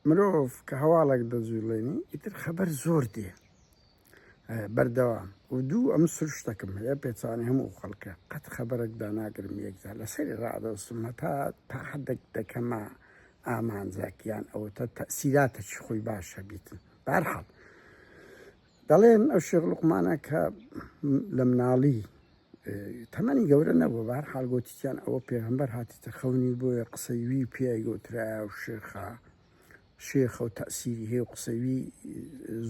مرۆڤ کە هەواڵێک دەجووڵێنی ئیتر خەبەر زۆر دێ بەردەوام و دوو ئەم سروشتەکەم هەیە پێچانی هەموو خەڵکە قەت خەبەرێک داناگرم یەکجار لەسەری ڕادەستم هەتا تا حدێک دەکەمە ئامانجاکیان ئەوتە تەسیراتە چ خۆی باشە بیتن بارحاڵ دەڵێن ئەو شێخ لوقمانە کە لە مناڵی تەمەنی گەورە نەبوو بار حالگوتیان ئەوە پێغمبەر هاتیتە خەونی بۆیە قسەوی پیای گۆترا و شێخە شێخە و تەسیری هەیە و قسەوی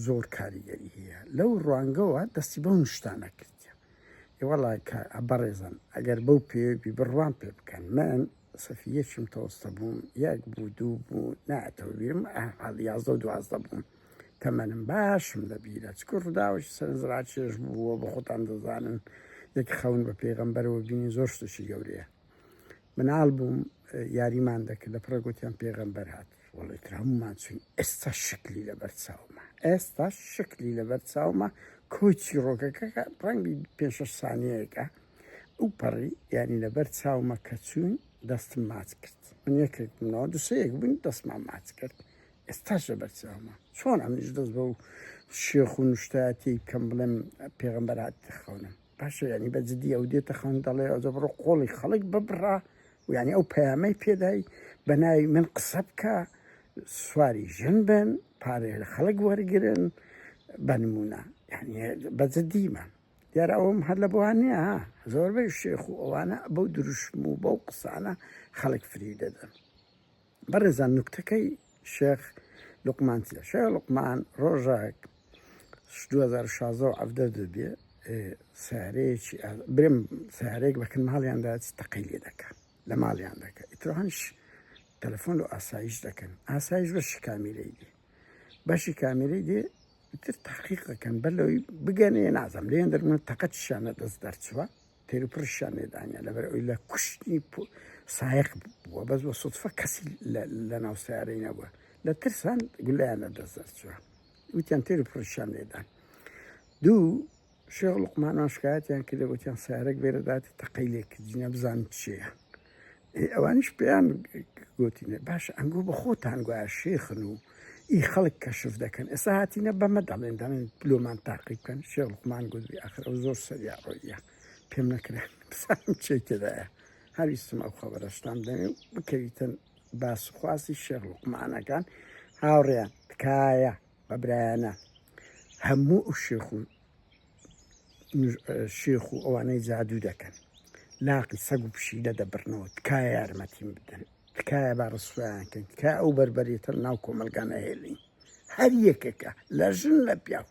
زۆر کاریگەری هەیە لەو ڕوانگەوە دەستی بەو نیشتانە کردە ئێوەڵا کە بەڕێزن ئەگەر بەو پێوی بڕوان پێ بکەن من سەفیە چون تەوەستە بووم یەک بوو دوو بوو ناتەوە بیرم حاڵ یازدە و دوازدە بووم تەمەنم باشم لەبیرە چکە ڕداوەش سەرنجڕا چێژ بووە بە خۆتان دەزانن یەک خەون بە پێغەمبەرەوە بینی زۆر شتشی گەورەیە مناڵ بووم یاریمان دەکرد لە پڕە گوتیان پێغەمبەر هات وڵی تر هەمومان چوین ئێستا شکلی لەبەر چاومە ئێستا شکلی لەبەر چاومە کۆچی ڕۆکەکەکە ڕەنگی پێ سانیەکە ئەو پەڕی یانی لەبەر چاومە کە چوون دەستم ماچ کرد من یەکێک بنەوە دوسەیەک بووین دەستمان ماچ کرد ئێستاش لەبەر چاومە چۆن ئەمنیش دەست بە و شێخ و نوشتاتی کەم بڵێم پێغمبەرات خەونم باشە ینی بە جددی ئەو دێتە خەون دەڵێ ئەوجە بڕۆ قۆڵی خەڵک ببڕا و ینی ئەو پەیامەی پێدای بە ناوی من قسە بکە سواری ژن بن پارێ لە خەڵک وەرگن بە نمونە بە جددیمان دیارە ئەوەم هەر لە بۆوان نییە ها زۆربەی شێخ و ئەوانە بەو دروشم و بەو قسانە خەڵک فریو دەدەن بەڕێزان نوکتەکەی شێخ لقمان چیە شێخ لقمان ڕۆژێک 2016 ئەفدە دەبێ سارەیەکی برم سارێک بەکن ماڵیاندا تەقی لێ دەکە لە ماڵیان دەکە ئیترهانش تەلەفۆن و ئاسایش دەکەن ئاسایش بە شکامی لەیدی بەشی کامیری دێ تر تحقیق دەکەن بەر لەوەی بگەنێ نازم لێن دەرمە تەقەتشانە دەست دەرچوە تێرو پرشان لێدانە لەبەر ئەوی لە کوشتنی سایق بووە بەس بە سوتفە کەسی لە ناو سیارەی نەبووە لە ترسان گولیان لە دەست دەرچوە وتیان تێرو پرشان لێدان دوو شێخ لوقمانان شکایەتیان کردە وتیان سەیارەک بێرە داتێ تەقەی لێ کردینە بزانین چیە ئێ ئەوانیش پێیان گوتینە باش ئەنگۆ بە خۆتان گوایە شێخن و ئی خەڵک کەشف دەکەن ئێستا هاتینە بەمە دەڵێن دەڵێن لۆمان تاقی بکەن شێخ لوقمان گوتبی ئاخر ئەو زۆر سەریا ڕۆیە پێم نەکرێن بزانم چی تێدایە هەویستم ئەو خەبەرەشتان دەمێ بکەویتن باس و خواستی شێخ لوقمانەکان هاوڕێیان تکایە بە برایانە هەموو ئەو شێخ و شێخ و ئەوانەی جادوو دەکەن لاقی سەگ و پشیلە دەبرنەوە تکایە یارمەتیم بدەن تکایە با ڕسویان کەین تکای ئەو بەربەرێتە ناو کۆمەلگانە هێلین هەر یەکێکە لە ژن لە پیاو